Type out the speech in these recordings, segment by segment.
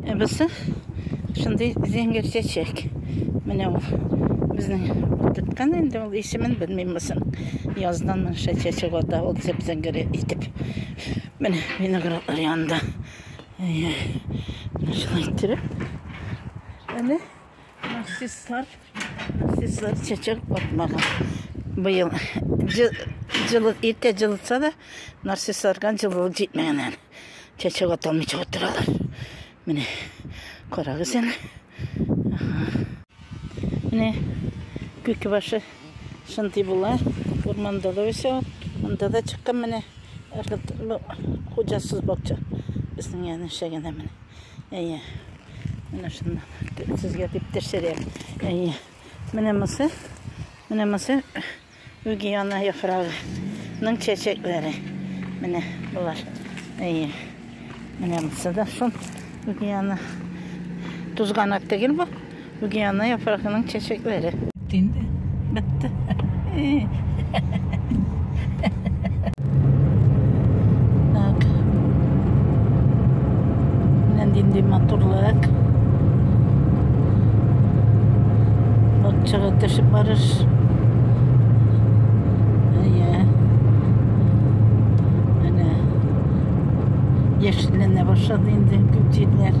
Ә бусы шундый зәңгәр чәчәк. Менә ул безнең тоткан инде ул исемен белмим бусын. Яздан монша чәчәк ата ул зәп-зәңгәр итеп. Менә виноградлар янында. Менә шулай иттереп. Әле нарциссар, нарциссар чәчәк атмаган. Быел җылы, иртә җылытса да, нарциссарга җылылык җитмәгән әле. Чәчәк аталмыйча утыралар. Менә карагыз әле. Менә күке башы шундый була. Урманда да үсә. Анда да чыккан менә хуҗасыз бакча. Безнең янә шәгәнә менә. Әйе. Менә шунда сезгә дип тешерәм. Әйе. Менә мысы. Менә мысы. Үгиана яфрагы ның чәчәкләре. Менә болар. Әйе. Менә монсы да шул. Үгиана. Тузганак түгел бу. Үгиана яфрагы ның чәчәкләре. Инде. Бетте. Так. Менә нинди матурлык. Бакчага төшеп барыш. Әйе. Менә яшелләнә башлады инде күп җирләр.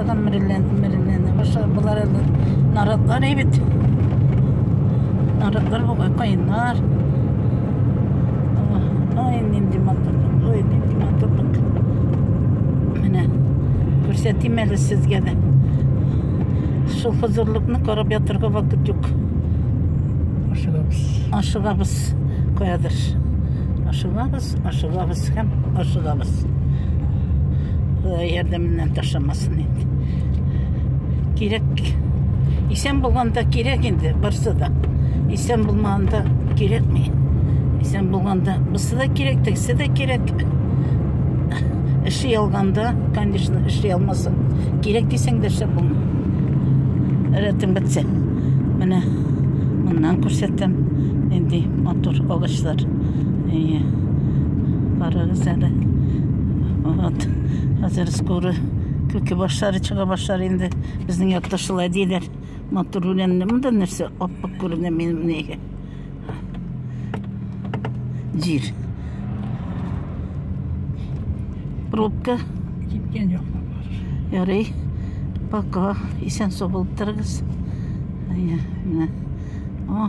Адам мөрелләнә башлар. Болар әле наратлар әйбит. Наратлар бу кайнар. Ай, нинди матур. Ой, нинди матур. Менә күрсәтим әле сезгә дә. Шул хозурлыкны карап ятырга вакыт юк. Ашыгабыз. Ашыгабыз. Каядыр. Ашыгабыз. Ашыгабыз һәм ашыгабыз. Ходай ярдәменнән ташламасын инде. Кирәк. Исән булганда кирәк инде барсы да. Исән булмаганда кирәкми. Исән булганда бусы да кирәк, тегесе дә кирәк. Эше ялганда, конечно, эше ялмасын. Кирәк дисәң дә шәп булма. Рәтем бетсә. Менә моннан күрсәтәм. Нинди матур агачлар. Әйе. Карагыз әле. Вот. Хәзер скоро күке башлары чыга башлар инде. Безнең якта шулай диләр. Матур үләнне монда нәрсә аппак күренә минем нигә. Җир. Пробка. Киткән юк. Ярый. Пока. Исән сау булып торыгыз. Әйе. Менә. О.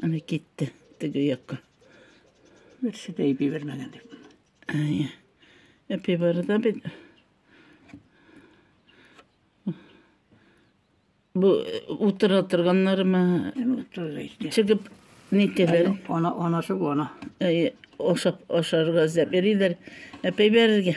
Аны китте теге якка. Берсе дә әйби бермәгән дип. Әйе. Әпи бары да бит. Бу э, утыра торганнармы? Чыгып нитәләр? Ана анасы бу ана. Әй, ашап ашарга эзләп йөриләр. Әпәй бәрергә.